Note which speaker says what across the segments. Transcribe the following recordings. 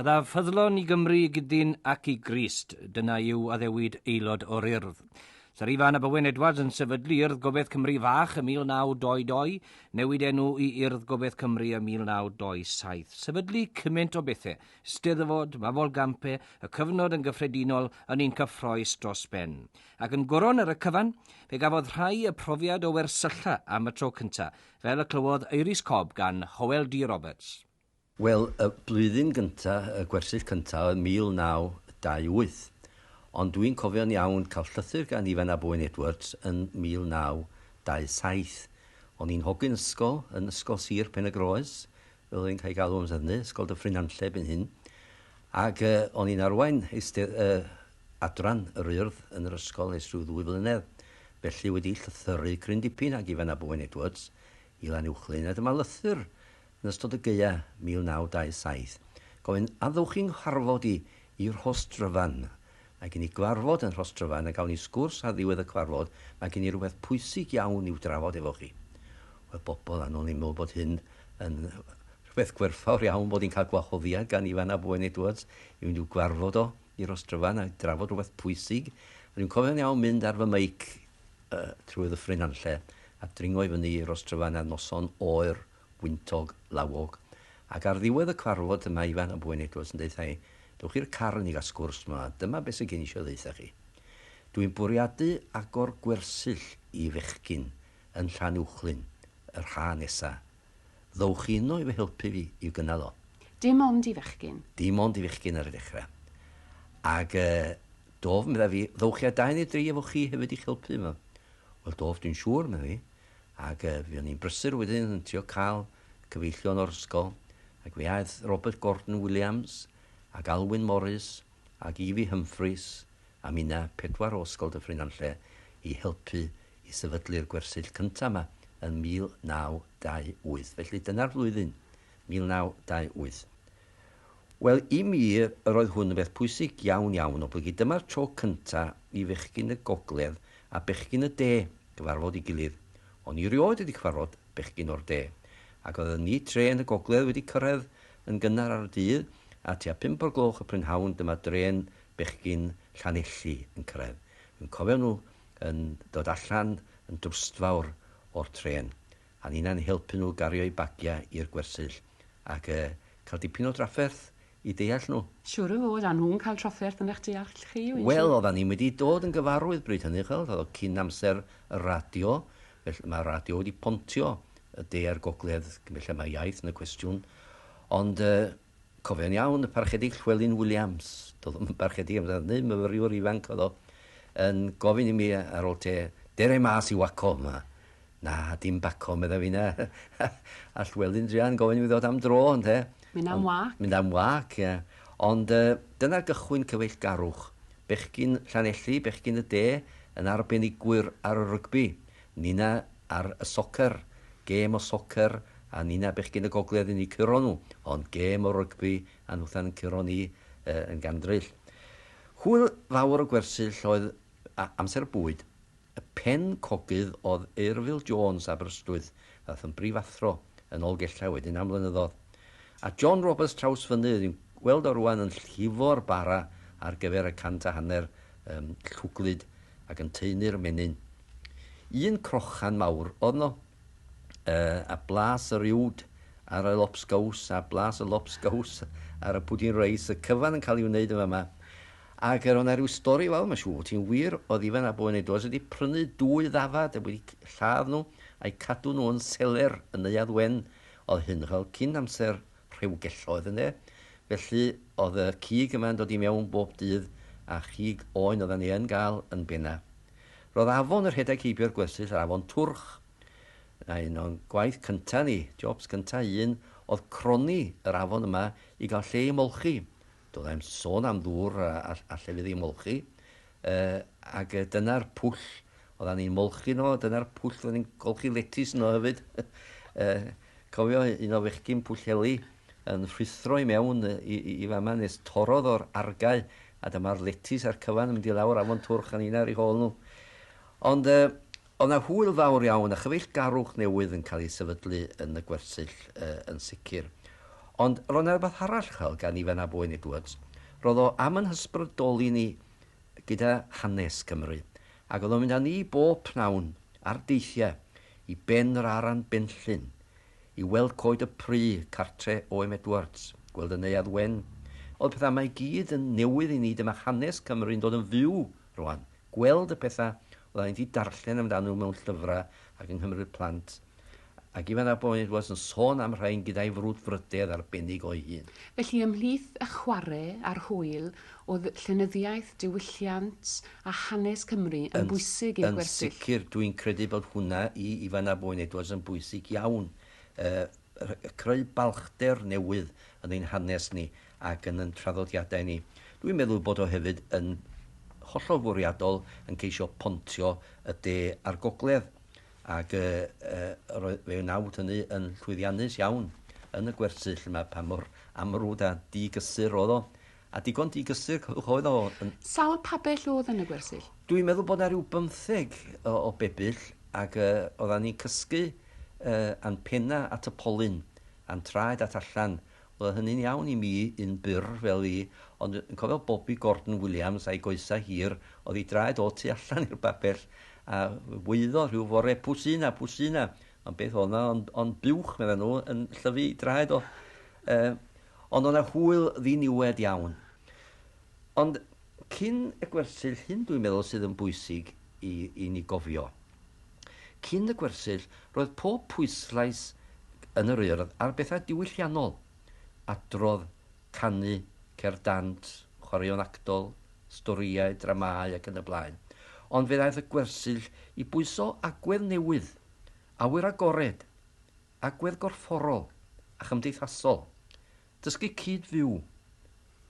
Speaker 1: Byddaf ffyddlon i Gymru i gydyn ac i Grist, dyna yw addewid aelod o'r Urdd. Sarifa Nab Owen Edwards yn sefydlu Urdd Gobaith Cymru Fach ym 1922, newid enw i Urdd Gobaith Cymru ym 1927. Sefydlu cymaint o bethe, Steddfod, Mafol Gampe, y cyfnod yn gyffredinol yn un cyffroes dros ben. Ac yn goron ar y cyfan, fe gafodd rhai y profiad o wersylla am y tro cynta, fel y clywodd Iris Cobb gan Howell D Roberts. Wel, y
Speaker 2: blwyddyn gynta', y gwersyll cynta', oedd 1928. Ond dwi'n cofio'n iawn cael llythyr gan Ifan ab Owen Edwards yn 1927. O'n i'n hogyn ysgol yn Ysgol Sir Pen-y-groes, fel oedd e'n cael ei galw amser hynny, Ysgol Dyffryn-nantlle erbyn hyn. Ac yy, o'n i'n arwain eisteddfod yy adran yr Urdd yn yr ysgol ers rhyw ddwy flynedd. Felly wedi llythyru cryn dipyn ag Ifan ab Owen Edwards i Lanuwchllyn, a dyma lythyr Yn ystod y gaeaf 1927, gofyn addewch i nghyfarfod i i Rhostryfan. Mae gen i gyfarfod yn Rhostryfan a gawn ni sgwrs ar ddiwedd y cyfarfod, mae gen i rywbeth pwysig iawn i'w drafod efo chi. Wel, bobl annwyl, ni'n meddwl bod hyn yn rhywbeth gwerthfawr iawn bod ni'n cael gwahoddiad gan Ifan ap Owen Edwards i fynd i'w gyfarfod o i Rhostryfan a drafod rhywbeth pwysig. A dwi'n cofio'n iawn mynd ar fy meic yy trwy Ddyffryn Nantlle a dringo i fyny i Rhostryfan ar noson oer gwyntog, lawog, ac ar ddiwedd y cyfarfod y mae Ifan, y bwyn eglwys, yn deutha i, Dewch i'r carn i gael sgwrs 'ma, dyma beth sydd gen i eisiau ddeutha chi. Dw i'n bwriadu agor gwersyll i fechgyn yn Llanuwchllyn yr haf nesa. Ddowch chi yno i fy helpu fi i'w gynnal o. Dim ond i fechgyn?
Speaker 3: Dim ond i fechgyn ar
Speaker 2: y dechrau. Ac yy, Dof, medda fi, ddowch chi â dau neu dri efo chi hefyd i'ch helpu yma. Wel, Dof, dwi'n siŵr, medda fi, ac yy fuon ni'n brysur wedyn yn trio cael cyfeillion o'r ysgol, ac fe aeth Robert Gordon Williams, ac Alwyn Morris, ac Evie Humphreys, a minna, pedwar o Ysgol Dyffryn Nantlle, i helpu i sefydlu'r gwersyll cynta' 'ma yn 1928. Felly dyna'r flwyddyn, 1928. Wel, i mi, yr oedd hwn yn beth pwysig iawn, iawn, oblygu. Dyma'r tro cynta' i fechgyn y Gogledd a bechgyn y De gyfarfod ei gilydd. O'n i rioed wedi cyfarfod bechgyn o'r De. Ac oedden ni trên y Gogledd wedi cyrraedd yn gynnar ar y dydd, a tua pump o'r gloch y prynhawn dyma drên bechgyn Llanelli yn cyrraedd. Yn cofio nhw yn dod allan yn drwstfawr o'r trên. A ninnau'n helpu nhw gario'u bagiau i'r gwersyll ac yy cael dipyn o drafferth i deall nhw. Siŵr o fod, a nhw'n
Speaker 3: cael trafferth yn eich deall chi, wyt ti? Wel, oeddan ni wedi
Speaker 2: dod yn gyfarwydd bryd hynny, ch'wel', oedd o cyn amser y radio, felly ma' radio wedi pontio y De a'r Gogledd, felly ma' iaith yn y cwestiwn, ond yy Cofion iawn y Parchedig Llywelyn Williams, doedd o'm yn Barchedig amser hynny, myfyriwr ifanc oedd o, yn gofyn i mi ar ol te, Dere i mas i waco yma. Na, dim baco, medda finna. A Llywelyn druan gofyn i mi ddod am dro, ynde. Mynd am wac.
Speaker 3: Mynd am wac, ie.
Speaker 2: Ond yy dyna gychwyn cyfeillgarwch bechgyn Llanelli, bechgyn y de, yn arbenigwyr ar y rygbi. Nina ar y soccer, gêm o soccer a nina bechgyn y gogledd yn eu curo nhw, ond gêm o rygbi a nhwthan yn curo ni yn gandryll. Hwyl fawr y gwersyll oedd amser bwyd y pen cogydd oedd Eirfil Jones Aberystwyth ddath yn brifathro yn ol Gellau wedyn am flynyddodd. A John Roberts Trawsfynydd fi'n gweld o rwan yn llifo'r bara ar gyfer y cant a hanner llwglyd ac yn taenu'r menyn. Un crochan mawr oedd 'no, a blas yr uwd ar y lobsgows, a blas y lobsgows ar y pwdin reis, y cyfan yn cael ei wneud yn fama. Ac yr oedd 'na ryw stori fawr, mae'n siŵr, ti'n wir, oedd Ifan ab Owain Edwards wedi prynu dwy ddafad a wedi lladd nhw a'u cadw nhw yn seler yn Neuadd Wen. Oedd hyn fel cyn amser rhewgelloedd, ynde? Felly, oedd y cig yma'n dod i mewn bob dydd, a chig oen oeddan ni yn gael yn bena. Roedd afon y rhedeg heibio'r gwersyll yr afon Twrch. Yna un o'n gwaith cynta ni, jobs cynta un, oedd cronni yr afon yma i gael lle i molchi. Doddai'm sôn am ddŵr a a a llefydd i molchi. Yy ag yy dyna'r pwll oddan ni'n molchi yno, dyna'r pwll oddan ni'n golchi letys yno hefyd. yy cofio un o fechgyn Pwllheli? yn rhuthro i mewn i, i, i fama nes torodd o'r argae a dyma'r letys a'r cyfan yn mynd i lawr afon Twrch a nina ar ei hôl nhw. Ond uh, oedd na hwyl fawr iawn a chyfeillgarwch newydd yn cael ei sefydlu yn y gwersyll uh, yn sicr. Ond roedd na rhywbeth arall chael gan Ifan a Boen Edwards. Roedd o am yn hysbrydoli ni gyda hanes Cymru ac oedd o'n mynd â ni bob pnawn ar deithiau i ben yr Aran Benllyn i weld coed y pry, cartre Oem Edwards, gweld y Neuadd Wen, o'dd petha yma i gyd yn newydd i ni, dyma hanes Cymru'n dod yn fyw rwan, gweld y petha odda ni 'di darllen amdan nhw mewn llyfra ac yng Nghymru'r Plant, ac Ifan ap Oen Edwards yn sôn am rhain gyda'i frwdfrydedd arbennig o'i hun. Felly ymhlith
Speaker 3: y chware a'r hwyl, Oedd llenyddiaeth, diwylliant a hanes Cymru yn bwysig i'r gwersyll? Yn sicr, dwi'n credu
Speaker 2: bod hwnna i Ifan ab Wyn Edwards yn bwysig iawn. Creu balchder newydd yn ein hanes ni ac yn yn traddodiadau ni. Dwi'n meddwl bod o hefyd yn hollol fwriadol yn ceisio pontio y de a'r gogledd ac fe wnawn hynny yn llwyddiannus iawn yn y gwersyll yma pa mor amrwd a digysur oedd o. A digon digysur oedd o yn. Sawl pabell
Speaker 3: o'dd yn y gwersyll? Dwi'n meddwl bod 'na ryw
Speaker 2: bymtheg o bebyll ag yy oddan ni'n cysgu yy a'n penna at y polyn a'n traed at allan. O'dd hynny'n iawn i mi yn bur fel fi ond yn cofio Bobi Gordon Williams a'i goesa hir o'dd 'i draed o tu allan i'r babell a waeddodd rhyw fore Pwsina! Pwsina! Ond beth o'dd 'na ond ond buwch meddan nhw yn llyfu 'i draed o. Yy. Ond o' 'na hwyl ddiniwed iawn. Ond cyn y gwersyll, hyn dwi'n meddwl sydd yn bwysig i i ni gofio. Cyn y gwersyll, roedd pob pwyslais yn yr Urdd ar bethau diwylliannol, adrodd, canu, cerdd dant, chwaraeon actol, storïau, dramâu ac yn y blaen. Ond fe ddaeth y gwersyll i bwyso agwedd newydd, awyr agored. agwedd gorfforol a chymdeithasol, dysgu cyd-fyw,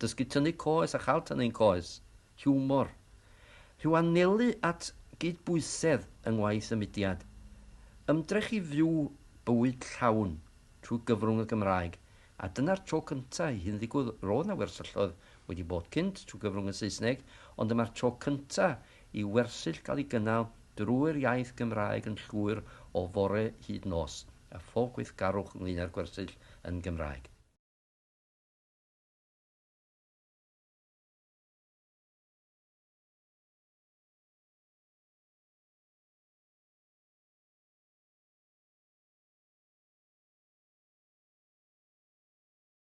Speaker 2: dysgu tynnu coes a chael tynnu ein coes, hiwmor, rhyw anelu at gydbwysedd yng ngwaith y mudiad, ymdrech i fyw bywyd llawn trwy gyfrwng y Gymraeg, a dyna'r tro cyntaf i hyn ddigwydd, roedd 'na wersylloedd wedi bod cynt trwy gyfrwng y Saesneg, ond dyma'r tro cyntaf i wersyll gael ei gynnal drwy'r iaith Gymraeg yn llwyr o fore hyd nos, a phob gweithgarwch ynglŷn â'r gwersyll yn Gymraeg.